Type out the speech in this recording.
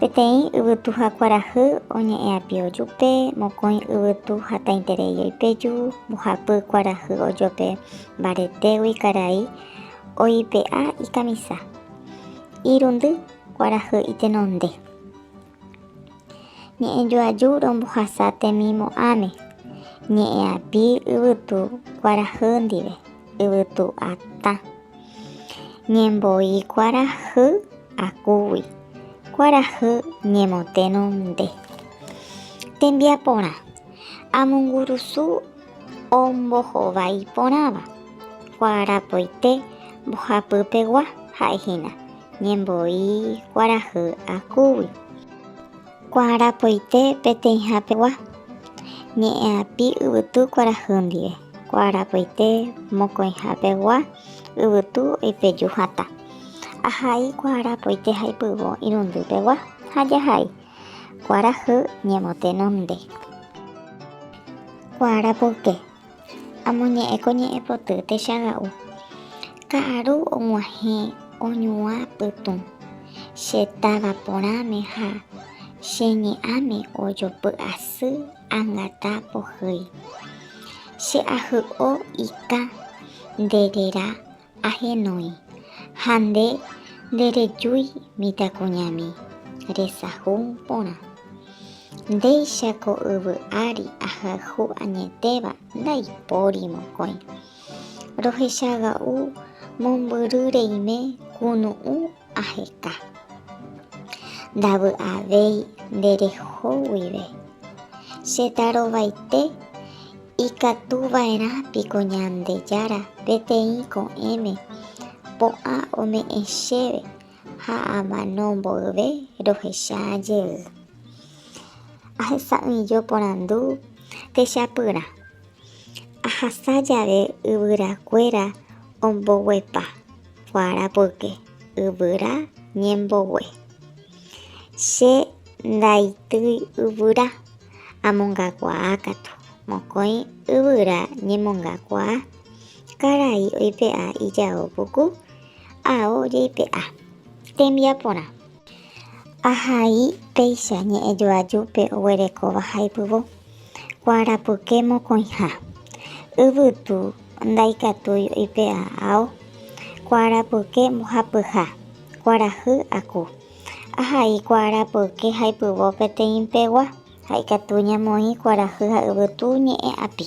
Peteĩ yvytuha kuarahy oñe'ẽ api'ojupe, mokõi yvytu hatãiterei oipeju, mbohapy kuarahy ojope mbaretégui karai oipe'a ikamisa, irundy kuarahy itenonde. Ñe'ẽjoaju rombohasa temimo'ãme, ñe'ẽapi yvytu kuarahy ndive. yvytu'atã ñembo'i kuarahy akúgui, kuarahy ñemotérõ nde. Tembiaporã, amongurusu ombohovái porãva, kuarapoite mbohapypegua ha'ehína ñembo'i kuarahy akúgui. Kuarapoite peteĩhapegua, ñe'ẽapi yvytu kuarahy ndive. Kuarapoite mokõihapegua, yvytu oipeju hatã. Ahai kuarapoite haipyvo irundýpegua ha jahai. Kuarahy ñemotenonde. Kuarapoke. Amoñe'ẽ ko ñe'ẽ poty techaga'u, ka'aru og̃uahẽ oñuã pytũ, che táva porãme ha che ñe'ãme ojopy'asy angata pohýi. Che ahy'o ikã nde rera Ahenói, ha nde nderejúi mitãkuñami resahu porã. Ndéicha ko yvy ári ahayhu añetéva ndaipóri mokõi. Rohechaga'u mombyry reime kunu'ũ Aheka. Ndavy'avéi nde reho guive. Che tarovaite ikatu va'erã piko Ñandejára peteĩ ko'ẽme po'ã ome'ẽ chéve ha amano mboyve rohecha jey. Ahesa'ỹijo porandu techapyrã. Ahasa jave yvyrakuéra omboguepa. Kuarapoyke yvyra ñembogue. Che ndaitýi yvyra, amongakuaa katu. Mokõi yvyra ñemongakuaa, karai oipe'a ijao puku, ao jaipe'a. Tembiaporã. Ahai péicha ñe'ẽjoajúpe oguerekóva haypyvo, kuarapuke mokõiha. Yvytu ndaikatúi oipe'a ao, kuarapuke mbohapyha, kuarahy aku. Ahai kuarapuke haypyvo peteĩpegua ha ikatu ñamoĩ kuarahy ha yvytu ñe'ẽ'api.